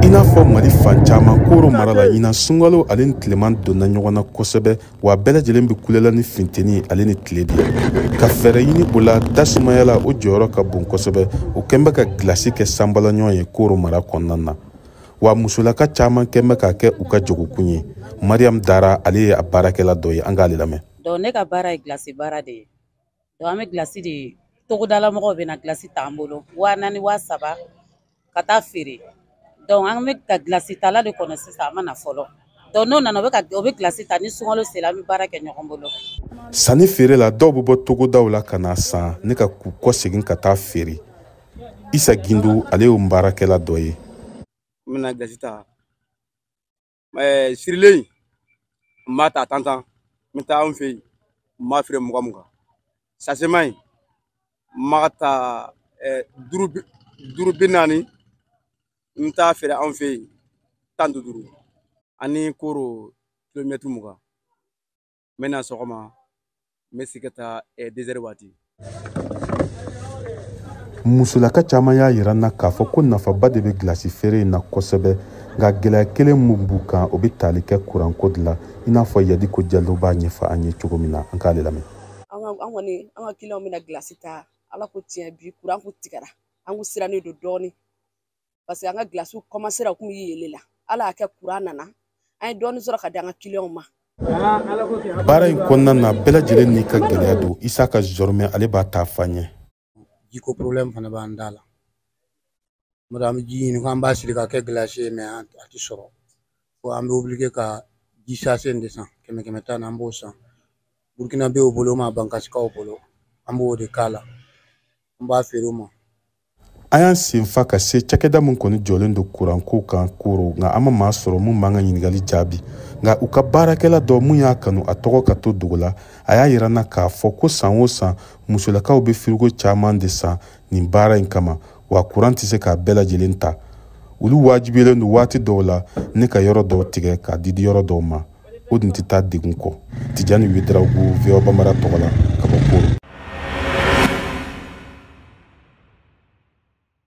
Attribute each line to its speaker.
Speaker 1: i n'a fɔ mali fan caman koro mara la ɲinan sunkalo ale ni tileman donna ɲɔgɔn na kosɛbɛ wa bɛɛ lajɛlen bɛ kule la ni finteni ale ni tile de ka fɛɛrɛ ɲini o la tasumaya la o jɔyɔrɔ ka bon kosɛbɛ o kɛn bɛ ka gilasi kɛ sanbalaɲɔgɔn ye koro mara kɔnɔna na wa musolaka caman kɛn bɛ k'a kɛ u ka jagokun ye mariyamu dara ale ye a baarakɛla dɔ ye an k'ale lamɛn donc ne ka baara
Speaker 2: ye gilasi baara de ye donc an bɛ gilasi di togodala mɔgɔw bɛ na gilasi t'an bolo waa naani waa saba ka taa feere donc an bɛ ka gilasi tala de kɔnɔ sisan a ma na fɔlɔ donc n'o nana o bɛ gilasi ta ni sunkalo sera an bɛ baara kɛ ɲɔgɔn bolo sanni
Speaker 1: feere la dɔw bɛ bɔ togodaw la ka na san ne ka ka kɔsegin ka taa feere isa gindo ale y'o baarakɛla dɔ ye n bɛna
Speaker 3: gilasi ta ɛɛ sirilen in n b'a ta tan tan n bɛ taa anw fɛ yen n b'a feere mugan mugan sasema in n b'a ta ɛɛ duuru bi duuru bi naani n bɛ taa feere anw fɛ yen tan ni duuru an ni koro kilomɛtiri mugan n bɛ na sɔgɔma n bɛ sigi ka taa deux heures
Speaker 1: waati musolaka caman y'a yira n na k'a fɔ ko nafaba de bɛ gilasi feere in na kosɛbɛ nka gɛlɛya kelen min b'u kan o bɛ tali kɛ kuranko de la i n'a fɔ yadiko jalo b'a ɲɛfɔ an ye cogo min na an k'ale lamɛn an kɔni
Speaker 4: an ka kiliyanw bɛ na gilasi ta ala ko tiɲɛ bi kuran kun tigɛra an kun sirannen don dɔɔnin parce que an ka gilasiw kɔmansera u kun bɛ yele la ala y'a kɛ kuran nana an ye dɔɔni sɔrɔ ka di an ka kiliyanw
Speaker 1: ma baara in kɔnɔna na bɛɛ lajɛlen n'i ka gɛlɛya don isaka zɔrɔmɛ ale b'a ta fɔ an ye jiko problème
Speaker 5: fana b'an da la n'o tɛ an bɛ ji ɲini k'an b'a siri ka kɛ gilasi ye mais a tɛ sɔrɔ fo an bɛ obligé ka ji sase in de san kɛmɛ kɛmɛ tan na an b'o san burukinabɛw bolo ma bankasikaw bolo an b'o de k'a la an b'a feere o ma an y'an
Speaker 1: senfa ka se cakɛda min kɔni jɔlen don kuranko kan koro nka an ma maa sɔrɔ min b'an ka ɲiningali jaabi nka u ka baarakɛla dɔ min y'a kanu a tɔgɔ ka to dogo la a y'a yira n na k'a fɔ ko san o san musolakaw bɛ firigo caman de san nin baara in kama wa kuran tɛ se k'a bɛɛ lajɛlen ta olu wajibilen don waati dɔw la ne ka yɔrɔ dɔw tigɛ k'a di di yɔrɔ dɔw ma o dun tɛ taa degun kɔ tijani wedarawogo voa bambara tɔgɔ la ka bɔ koro